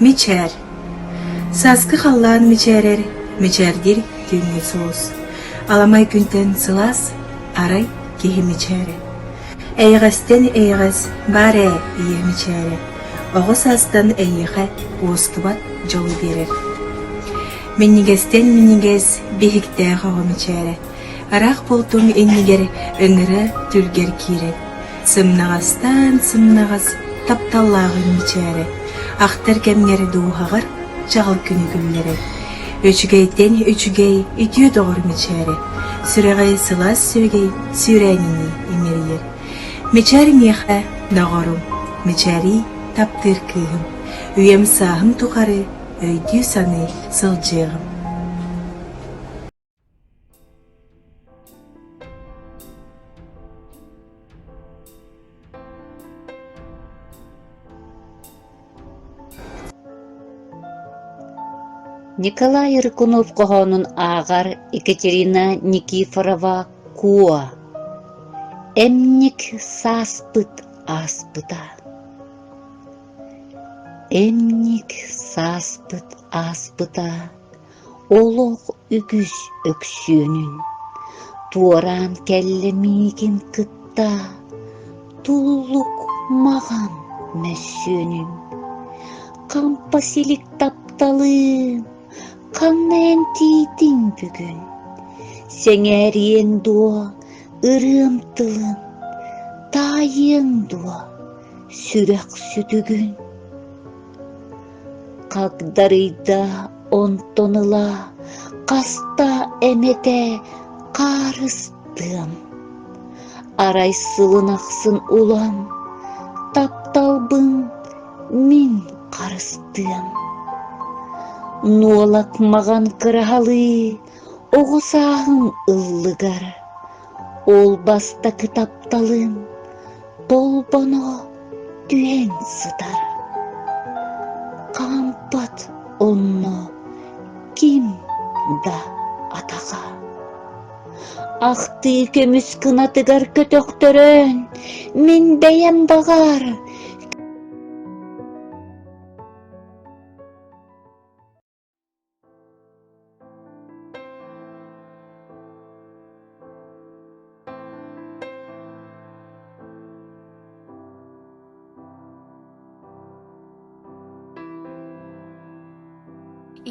Мичээр Сааскы халлаан мичээрэр, мичээрдир түүҥҥү суос. Аламай күнтэн сылаас, арай киһи мичээрэ. Эйэҕэстэн эйэҕэс баар ээ ийэ мичээрэ. Оҕо саастан эйиэхэ уоскубат дьолу биэрэр. Минньигэстэн-минньигэс биһиктээх оҕо мичээрэ, ыраах бултуҥ иннигэр ыҥыра түргэр киирэр, сымнаҕастаан-сымнаҕас тапталлааҕын мичээрэ, ахтар кэмҥэр дууһаҕар чаҕыл күнү күллэрэр, үчүгэйтэн үчүгэй үтүө доҕор мичээрэ, сүрэҕи сылаас сүөгэй сүүрээнинии иҥэрийэр. Мичээр миэхэ доҕорум, мичээрий таптыыр кыыһым, үйэм сааһым тухары өйдүү-саныы сылдьыаҕым Николай Рыкунов хоһоонун ааҕар Екатерина Никифорова Куо Эмник сааспыт ааспыта Эмньик сааспыт ааспыта олох үгүс Өксүөнүн туораан кэллэ миигин кытта туллук маҕан мөссүөнүн хампа силик тапталын ханна эмтиитиҥ бүгүн сэҥээриэҥ дуо ырыам тылын таайыаҥ дуо сүрэх-сүтүгүн хагдарыйда онтон ыла хаста эмэтэ хаарыстыам арай сылын ахсын улам тапталбын мин харыстыам нуолак маҕан кыраһалыы оҕо сааһыҥ ыллыгар Ол бастакы тапталым Толбоно түһэн сытар. Хаампат онно ким да атаха. Ахтыы көмүс кынатыгар көтөхтөрөн, мин бэйэм баҕар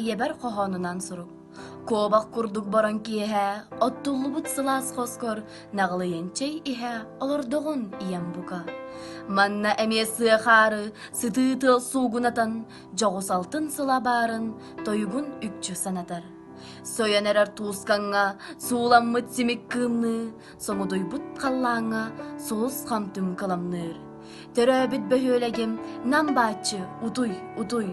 ийэбэр хоһоонунан сурук куобах курдук борон киэһэ оттуллубут сылаас хоскор наҕылыйын чэй иһэ олордоҕун ийэм бука манна эмиэ сыахаары сытыы тыл суугунатан дьоҕус алтын сыла баарын тойугун үкчү санатар. Сойон эрэр туускаҥҥа сууламмыт симик кыымныы, сомудуйбут халлааҥҥа сулус хамтүм кыламныыр. Төрөөбүт бөһүөлэгим Нам бааччы утуй, утуй,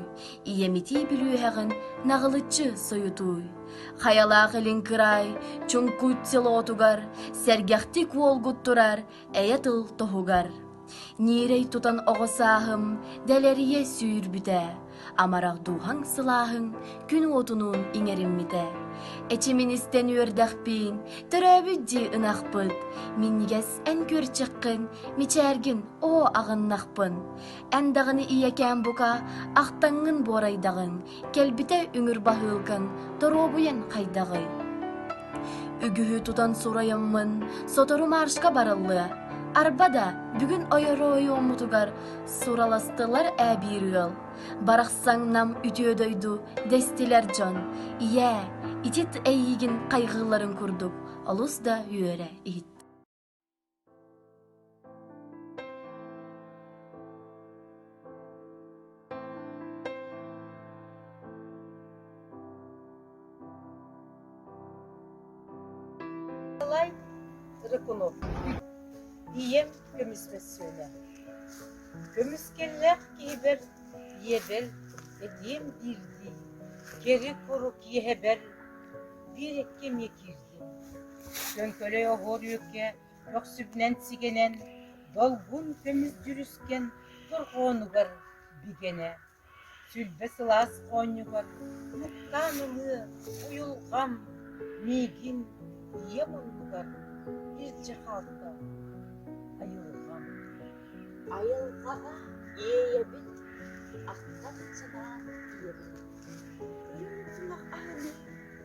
ийэмитии бүлүүһэҕин наҕылыччы сойутуй. Хайалаах илин кыраай Чуҥкут селотугар сэргэхтик уолгут турар эйэ тыл тоһугар ньиэрэй тутан оҕо сааһым дэлэрийэ сүүрбүтэ амарах дууһаҥ сылааһыҥ күн уотунуун иҥэриммитэ эчимин истэн үөрдэхпин төрөөбүт дии ынахпыт минньигэс эн көрчүххүн мичээргин оо аҕыннахпын Андаҕыны ийэкээн бука, ахтаҥҥын буорайдаҕын, кэлбитэ үҥүр баһыылкын, торуобуйаҥ хайдаҕый? Үгүһү тутан сурайаммын, сотору маршка барыллыа. Арба да, бүгүн ойору ойуоммутугар сураластылар ээ биир ыал. Барахсан нам үтүө дойду дэстилэр дьон. Ийээ, итит эйиигин хайҕыыларын курдук олус да үөрэ иһит. Николай Рыкунов. Ийэм көмүс мөссүөнэ. Көмүс кэллээх киһибэр ийэбэр этиэм биирдии, кэрэ куру киэһэбэр биир эккэ эмиэ киирдэ. Лөҥкөлөй оҕуор үөккэ көхсүбүнэн сигэнэн, долгун көмүс дьүрүскэн дорҕоонугар бигэнэ, сүлбэ сылаас оонньугар нуктаан ылыы уйулҕам миигин ийэ муннугар илдьэ хаалта айылҕам. Айылҕаҕа иэйэбин, ахтан санаан ийэбин. Көрүҥ сылах аһыны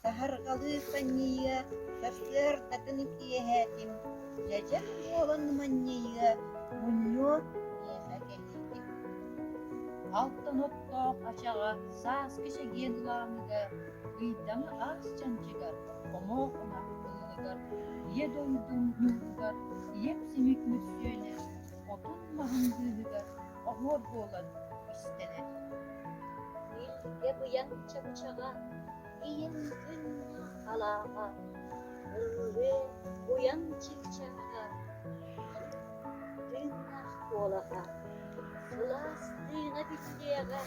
Саһарҕалыы ханньыйыа, сарсыардатын киэһээтин, дьэдьэн буолан манньыйыа, мунньуо миэхэ кэлиитин. Алтан оттоох ачаҕа сааскы чэгиэн ылааныга, ыйдаҥа аас чанчыгар, хомоох ынах ыллыгар, ийэ дойдум ньууругар, ийэм симик мөссүөнэ, отун маһын быыһыгар оһуор буолан истэнэр. Илгэ быйаҥ чапчаҕа, ийин күн алааҕа ыргыһыы буйан чыпчаҥҥа тыыннаах куолаһа кылаас тыына биллиэҕэ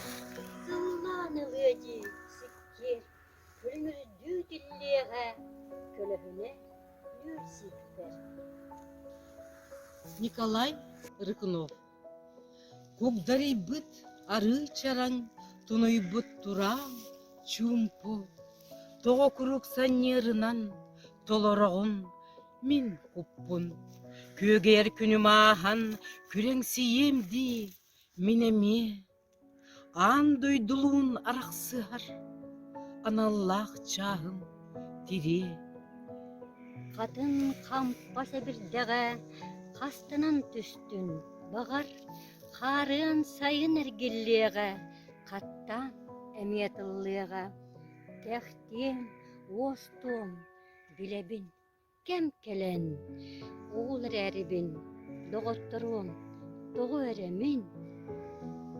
сыллаан ылыа дии сиккиэр күлүмүрдүү тиллиэҕэ көлөһүнэ нүүр сиэхпэр Николай Рыкунов Кугдарыйбыт арыы чараҥ, тунуйбут тураан, чуумпу, тоҕо куруук санньыырынан толороҕун мин куппун. Күөгэйэр күнүм ааһан күрэҥсийиэм дии, мин эмиэ. Аан дойдулуун арахсыһар аналлаах чааһым тириэ. Хатын хампас эбирдэҕэ хастынан түстүн, баҕар, хаарыан сайын эргиллиэҕэ, хаттаан эмиэ тыллыаҕа. Тэхтиэм, уостуом, билэбин Кэм кэлэн, ол эрээрибин, доҕотторуом, тоҕо эрэ мин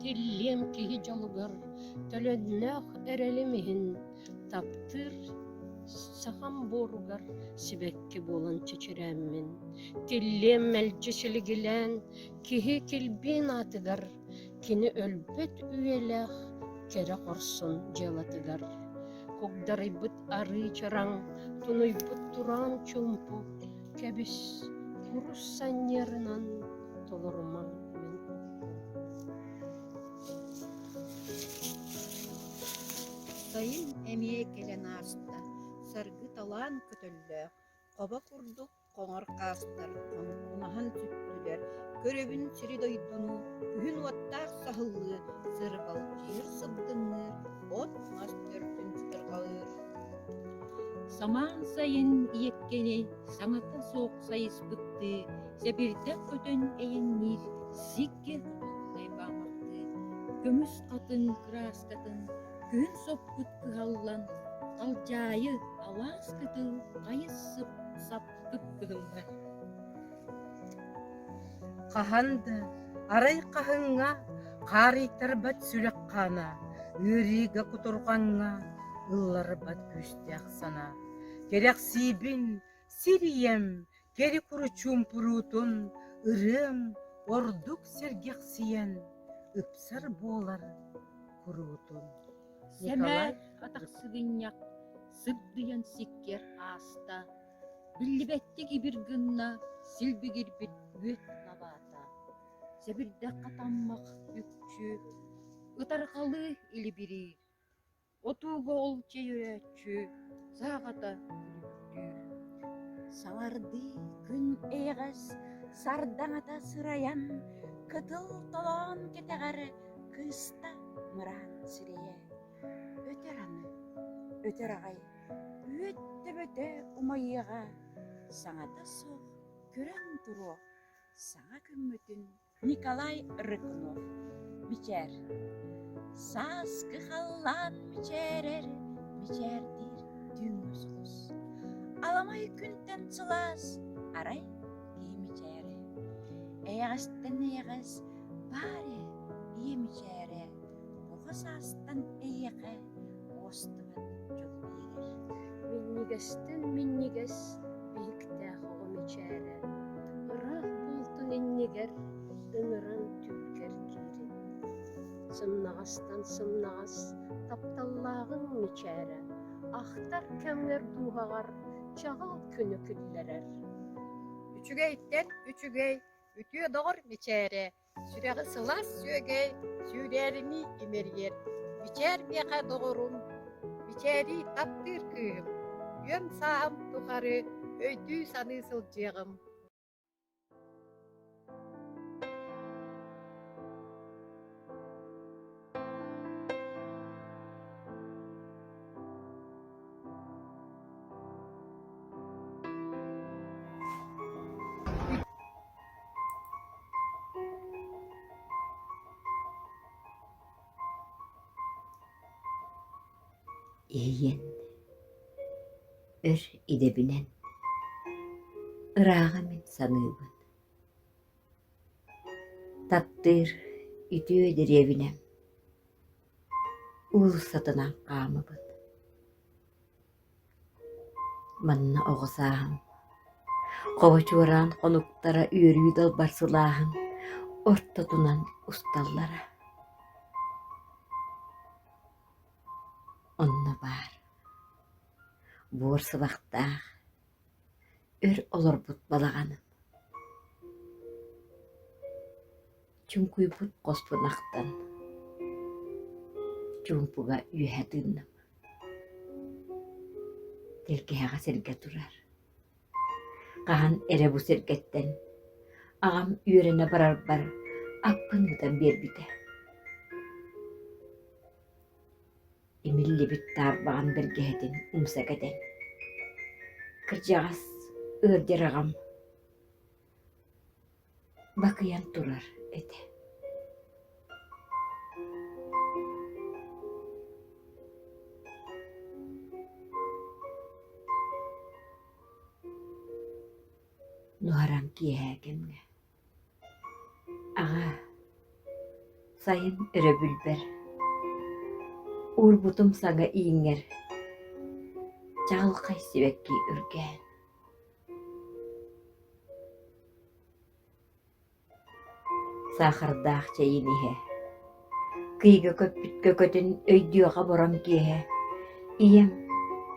Киллиэм киһи дьолугар төлөннөөх эрэлим иһин таптыыр сахам буоругар сибэкки буолан чичирээммин, киллиэм мэлдьи силигилээн киһи килбиин аатыгар Кини өлбүт үйэлээх кэрэ хорсун дьыалатыгар кугдарыйбыт арыы чараҥ, тунуйбут тураан чуумпу кэбис курус санньыарынан толорума мин. Сайын эмиэ кэлэн ааста, саргы талаан көтөллөөх, хоба курдук хоҥор хаастар маһын сүттүлэр, көрөбүн сири-дойдуну, күһүн уоттаах саһыллыы, сырҕалдьыыр сылдынныыр, от мас төрдүн сытырҕалыыр. Самаан сайын иэккэни саҥата суох сайыспыттыы, сэбирдэх көтөн эйэнниир сиккэ лайбаамахтыы, көмүс хатын кырааскатын Күн соппут ыһаллан, халдьаайы, алаас кытыл хайыс сап-саппыт кыһыҥҥа. Хаһан да, арай хаһыҥҥа, хаарыйтарбат сүрэх хаана, ыарыыга кутурҕаҥҥа ылларбат күүстээх санаа. Кэрэхсиибин, сир ийэм, Кэрикуручуумпуруутун ырыам ордук сэргэхсийэн ыпсар буолар куруутун Сэмээр атахсыгынньах сыбдыйан сиккэр ааста, биллибэттик ибир гынна силбигирбит үөт лабаата. Сэбирдэх хатаммах үкчү, ытарҕалыы илибирии. Отууга ол чэйрээччи саахата күлүктүүр. Саҥардыы күн эйэҕэс сардаҥата сырайан, кытыл толоон кэтэҕэр кыыста мыраан сирэйэ. Өтөр аны, өтөр аҕай, үөттэ-бөтө умайыаҕа, саҥата суох күрэн туруо саҥа күммүтүн Николай Рыкунов мичээр. Сааскы халлаан мичээрэр, мичээрдиир түүн-мөсулус. Аламай күнтэн сылаас, арай кии мичээре. Эйэҕэстэн эйэҕэс, баары ийэ мичээрэ. оҕо саастан эйиэхэ уостубат дьол биэрэр. Минньигэстэн минньигэс биһиктээх оҕо мичээрэ, ыраах буолтун иннигэр ыныран түҥкэр киирин. Сымнаҕастан сымнаҕас тапталлааҕын мичээрэ, ахтар кэмҥэр дууһаҕар чаҕыл күнү киллэрэр. Үчүгэйтэн үчүгэй үтүө доҕор мичээрэ Сүрэҕи сылаас сүөгэй, сүүрээриний имэрийэр, бичээр миэхэ доҕорум, бичээрий таптыыр кыыһым, үөм сааһым тухары өйдүү-саныы сылдьыаҕым Эйиэн, өр идэбинэн ырааҕа мин саныыбын. Таптыыр үтүө дэриэбинэ уулуссатынан хаамабыт. Манна оҕо сааһым хобочуораан хонуктара үөрүү далбар сылааһын ортотунан усталлара. Онно баар буор сыбахтаах Өр олорбут балаҕаным Чуҥкуйбут хоспун ахтан Чуумпуга үөһэ тыыннам Тэлгэһэҕэ сиргэ турар Хаһан эрэ бу сиргэттэн Аҕам үөрэнэ барарбар Аппын мутан биэрбитэ имиллибит таарбаҕан бэргэһэтин умса кэтэн кырдьаҕас ыалдьар аҕам бакыйан турар этэ нуһараҥ киэһээ кэмҥэ Аҕаа, сайын өрөбүлбэр уурбутум сага ииҥэр чаҕылхай сибэкки үргээн саахардаах чэйин иһэ, кыйга көппүт көкөтүн өйдүөҕэ борон киэһэ ийэм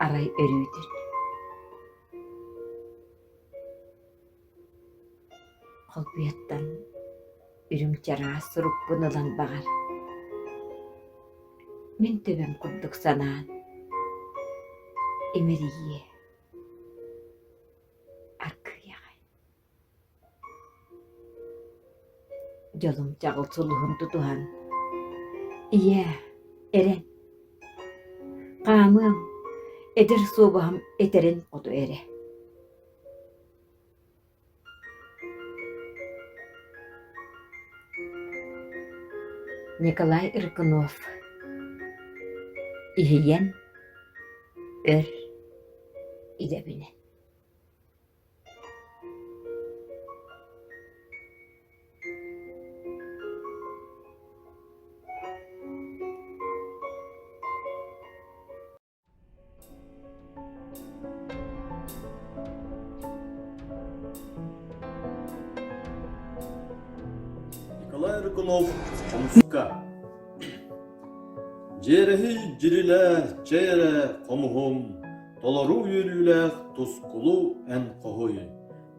арай өрүүтүн Халбыйаттан үрүм чараас сурукпун ылан баҕар, мин төбөм курдук санаан имэрийиэ, аргыйаҕай. Дьолум чаҕыл сулуһун тутуһан, ийээ, эрэн, хаамыам, эдэр суобаһым этэрин хоту эрэ. Николай Иркунов Иһийэн өр идэбинэ Николай Рыкунов хомуска Дьиэрэһи дьирилэ чэйэрэ хомуһум толору үөрүүлээх тускулу эн хоһуй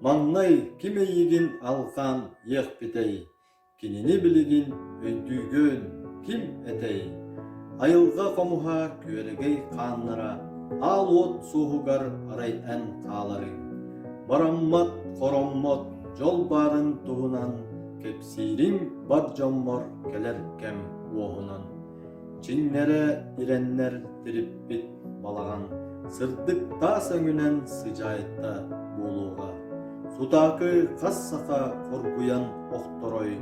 Маҥнай ким эйигин алҕаан иэхпитэй Кинини билигин өйдүүгүн, ким этэй? Айылҕа хомуһа күөрэгэй хааннара аал уот суоһугар арай эн хааларый. Бараммат, хороммот дьол баарын туһунан кэпсиириҥ бар дьоммор кэлэр кэм уоһунан. Чиннэрэ ирэннэр тириппит балаҕан сырдык таас өҥүнэн сыдьаайта буолуоҕа. Сутаакы хас саха хоргуйан охторой,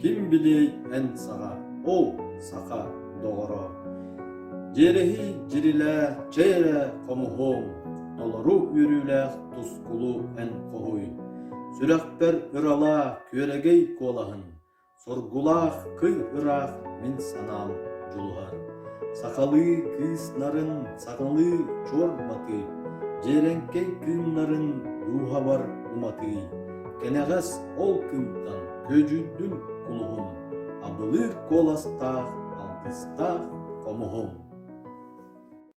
ким билиэй эн саҕа, ол саха доҕоро. Дьиэрэһий дьирилээ, чэй эрэ хомуһуоҥ, толору үөрүүлээх тускулу эн хоһуй. Сүрэхпэр ыралаа күөрэгэй куолаһын, Соргулаах кый ыраах мин санаам дьулуһар. Сахалыы кыыс нарын, сахалыы чуор матыы, дьиэрэҥкэй күннэрин дууһабар уматыы. Кэнэҕэс ол күнтэн күөдьүйдүн кулуһун, абылыыр куоластаах алтыстаах хомуһум.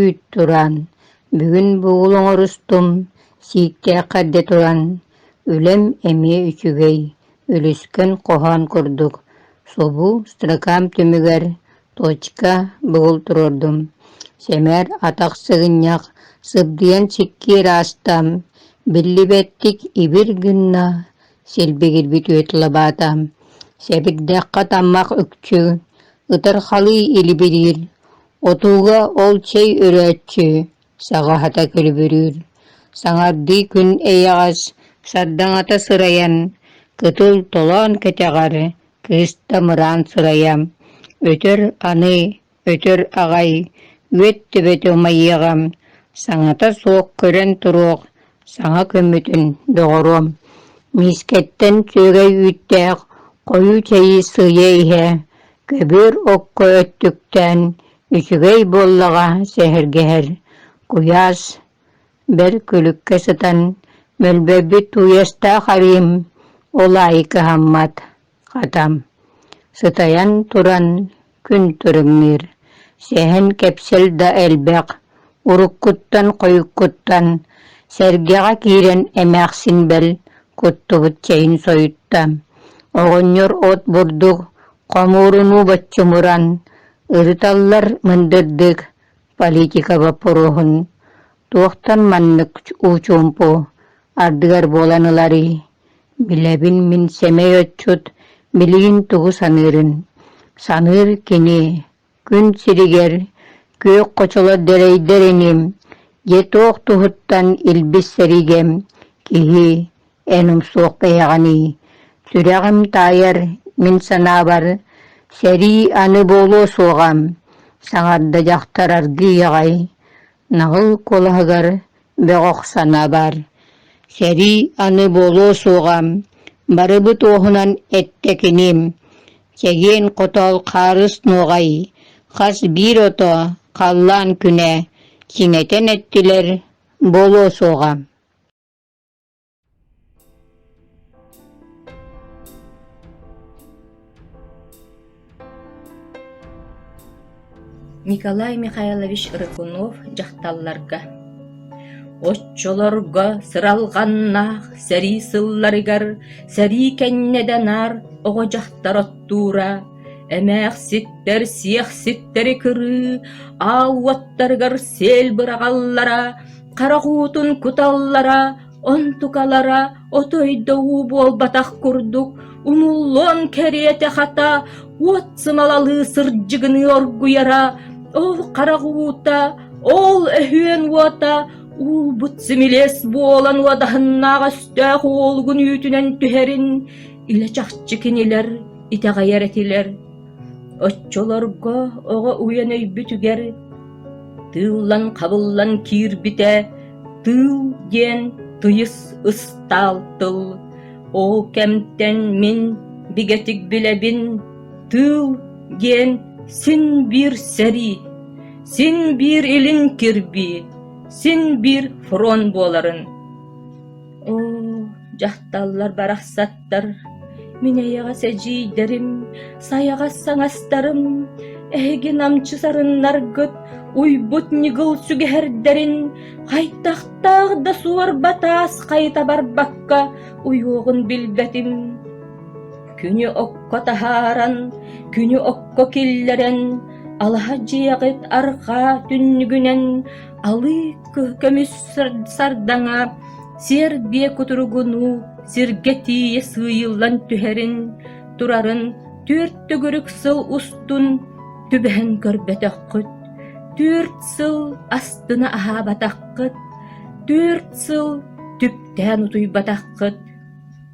үүт-тураан, бүгүн бугул оҥорустум, сииктээх эрдэ туран, үлэм эмиэ үчүгэй, үлүскэн хоһоон курдук, субу строкам түмүгэр точка бугул туруордум, сэмээр атах сыгынньах, сыбдыйан сиккиэр аастам, биллибэттик ибир гынна, силбигирбит үөт лабаата, сэбирдэххэ таммах үкчү, ытырхалыы илибириир, Отууга ол чэй үрээччи, саҕаһата күлүбүрүүр, саҥардыы күн эйэҕэс, сардаҥата сырайан, кытыл толоон кэтэҕэр, кыыс тамыраан сырайа, өтөр аны, өтөр аҕай, үөт төбөтө умайыаҕа, саҥата суох көрөн туруох, Саҥа күммүтүн, доҕоруом, миискэттэн сүөгэй үүттээх хойуу чэйи сыыйа иһэ, көбүөр окко өттүктээн, үчүгэй буоллаҕа сэһэргэһэр, куйаас, бэрт күлүккэ сытан, мөлбөббүт тууйастаах арыым ол аайы кыһаммат Хатам, сытайан туран, күн туруҥныыр, сэһэн кэпсэл да элбэх, уруккуттан хойуккуттан, сэргэҕэ киирэн эмээхсин бэл куттубут чэйин сойутта, оҕонньор от бурдук, хомуурунуу боччумуран, ырыталлар мындырдык политика боппуруоһун туохтан маннык учуумпу ардыгар буолан ыларый Билэбин мин сэмэй отчут билигин тугу саныырын. Саныыр кини күн сиригэр күөх хочоло дэлэйдэр иним дьэ туох туһуттан илбис сэригэм киһи эн умсуох бэйэҕиний сүрэҕим таайар мин санаабар сэрии аны буолуо суоҕам саҥарда дьахтар аргыый аҕай наһыл куолаһыгар Бөҕөх санабар, сэрии аны буолуо суоҕа, барыбы туоһунан эттэкиним, чэгиэн хотоол хаарыс нуоҕай, хас биир ото халлаан күнэ, сиҥэтэн эттилэр, буолуо суоҕа Николай Михайлович Рыкунов дьахталларга Оччолорго сыралҕаннаах сэрии сылларыгар сэрии кэннэ наар оҕо дьахтар оттуура, эмээхситтэр сиэх ситтэри кырыы, аал уоттарыгар сиэл быраҕаллара, харах уутун куталлара, онтукалара отой да уу буолбатах курдук умуллуон кэриэтэ хата уот сымалалыы сырдьыгыныы оргуйара, ол харах уута, ол өһүөн уота уубут симилиэс буолан уодаһыннаах өстөөх уолугун үүтүнэн түһэрин илэ чахчы кинилэр итэҕэйэр этилэр. Оччолорго оҕо уйан өйбүтүгэр Тыыллан-хабыллан киирбитэ «тыыл» диэн тыйыс ыстаал тыл, ол кэмтэн мин бигэтик билэбин «тыыл» диэн син биир сэрии, син биир илин кирбии, син биир фронт буоларын. Оо, дьахталлар барахсат Мин эйэҕэс эдьиийдэрим, сайаҕас саҥастарым эһиги намчы сарыннаргыт уйбут ньыгыл сүгэһэрдэрин хайдахтаах да суор батаас хайыта барбакка уйуоҕун билбэтим. Күнү окко таһааран, күнү окко киллэрэн, алаһа дьиэҕит арҕаа түннүгүнэн алыы көмүс сардаҥа сиэр биэ кутуругунуу сиргэ тиийэ сыыйыллан түһэрин турарын түөрт төгүрүк сыл устун түбэһэн көрбөтөххүт түөрт сыл астына аһаабатаххыт түөрт сыл түптээн утуйбатаххыт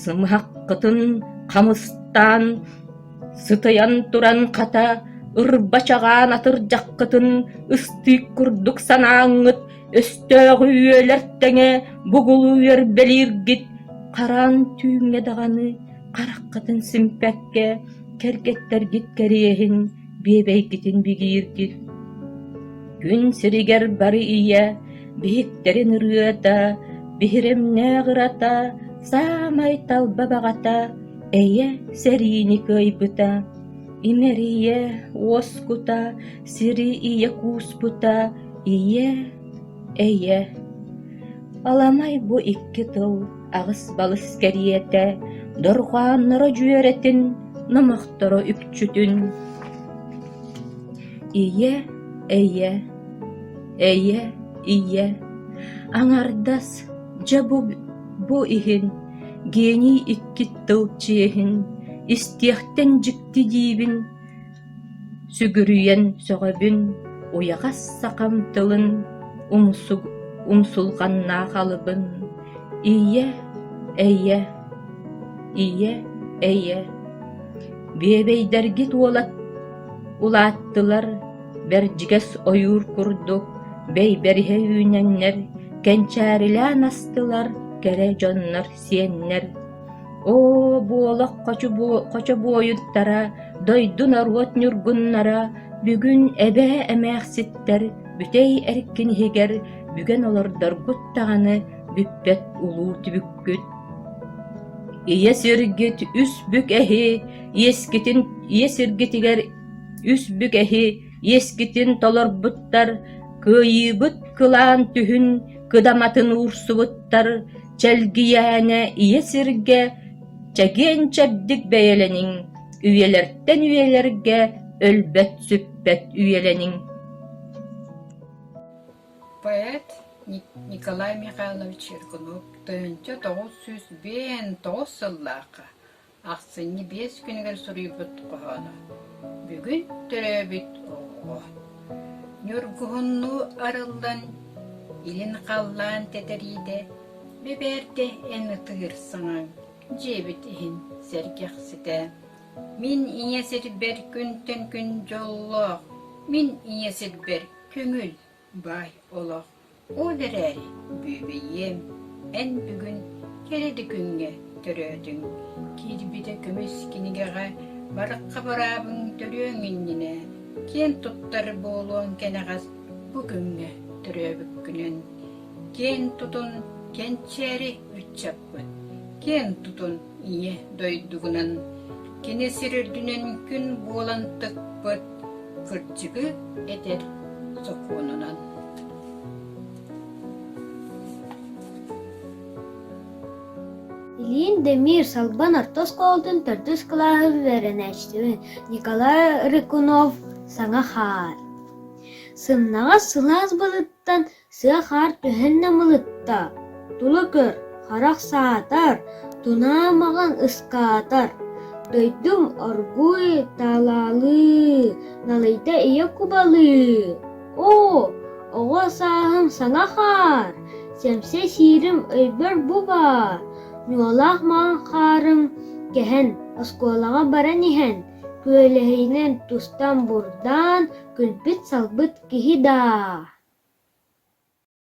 Сымыһаххытын хамыстаан, сытыйан туран хата, ырба чагаан атырдьаххытын ыстыык курдук санааҥҥыт өстөөҕү үөлэр тэҥэ бугулуйар бэлииргит хараан түүҥҥэ даҕаны хараххытын симпэккэ кэргэттэргит кэриэһин биэбэйгитин бигииргин Күн сиригэр бары ийэ биһиктэрин ырыата, биһирэмнээх ырата, саамай талба баҕата, эйэ сэриини кыайбыта, имэрийэ уоскута, сири ийэ кууспута, ийэ, эйэ. Аламай бу икки тыл аҕыс-балыс кэриэтэ дорҕоонноро дьүөрэтин, номохторо үпчүтүн ийэ, эйэ, эйэ, ийэ, аҥардас дьэ бу, бу иһин гений иккит тыл чиэһин истиэхтэн дьикти диибин Сүгүрүйэн сөҕөбүн уйахас сахам тылын, умсулҕаннаах алыбын, ийэ, эйэ, ийэ, эйэ, биэбэйдэргит уолат улааттылар, бэрдьигэс ойуур курдук бэйбэриһэ үүнэннэр, кэнчээрилээн астылар кэрэ дьоннор сиэннэр Оо, буолах хочо буойуттара, дойду норуот ньургуннара, бүгүн эбээ эмээхситтэр бүтэй эркин иһигэр бүгэн олордоргут даҕаны бүппэт улуу түбүккүт. Ийэ сиргит үс бүк эһи иэскитин ийэ сиргитигэр үс бүк эһи иэскитин толорбуттар, кыайыыбыт кылаан түһүн кыдаматын уурсубуттар, Чэлгийээнэ ийэ сиргэ чэгиэн-чэбдик бэйэлэниҥ, үйэлэртэн үйэлэргэ өлбөт-сүппэт үйэлэниҥ Поэт Николай Михайлович Еркунук тыһыынча тоҕус сүүс биээн тоҕус сыллаахха Ахсынньы биэс күнүгэр суруйбут хоһооно. Бүгүн төрөөбүт оҕоҕо. Ньургуһуннуу арыллан, илин халлаан тэтэриитэ, бэбээрдэ эн ытыыр саҥаҥ, дьиэбит иһин сэргэхситэ. Мин ийэ сирбэр күнтэн күн дьоллоох, мин ийэ сирбэр көҥүл. Бай олох, ол эрээри бүөбэйиэм, эн бүгүн кэрэ да күҥҥэ төрөөтүҥ, киирбитэ көмүс кинигэҕэ Барахха быраабыҥ төрүөҥ иннинэ киэн туттар буолуоҥ кэнэҕэс бу күҥҥэ төрөөбүккүнэн, киэн тутун, кэнчээри ыччаппыт, киэн тутун Ийэ дойдугунан кини сир үрдүнэн күн буолан тыкпыт кырдьыгы этэр сокуонунан Ильин Демир Салбан орто оскуолатын төрдүс кылааһын үөрэнээччитин Николай Рыкунов саҥа хаар. Сымнаҕас сылаас балыттан Сыа хаар төһөннө мылытта, тула көр, харах саатар, тунаа маҕан ыскаатар, дойдум оргууй талаалыы, налыйда ийэ кубалыы. Оо, оҕо сааһым саҥа хаар, сэмсэ сиирим өйбөр бу баар, ньуолаах маҥан хаарым кэһэн, оскуолаҕа баран иһэн, Күөлэһинэн тустан бурдаан, күлбүт-салбыт киһи даа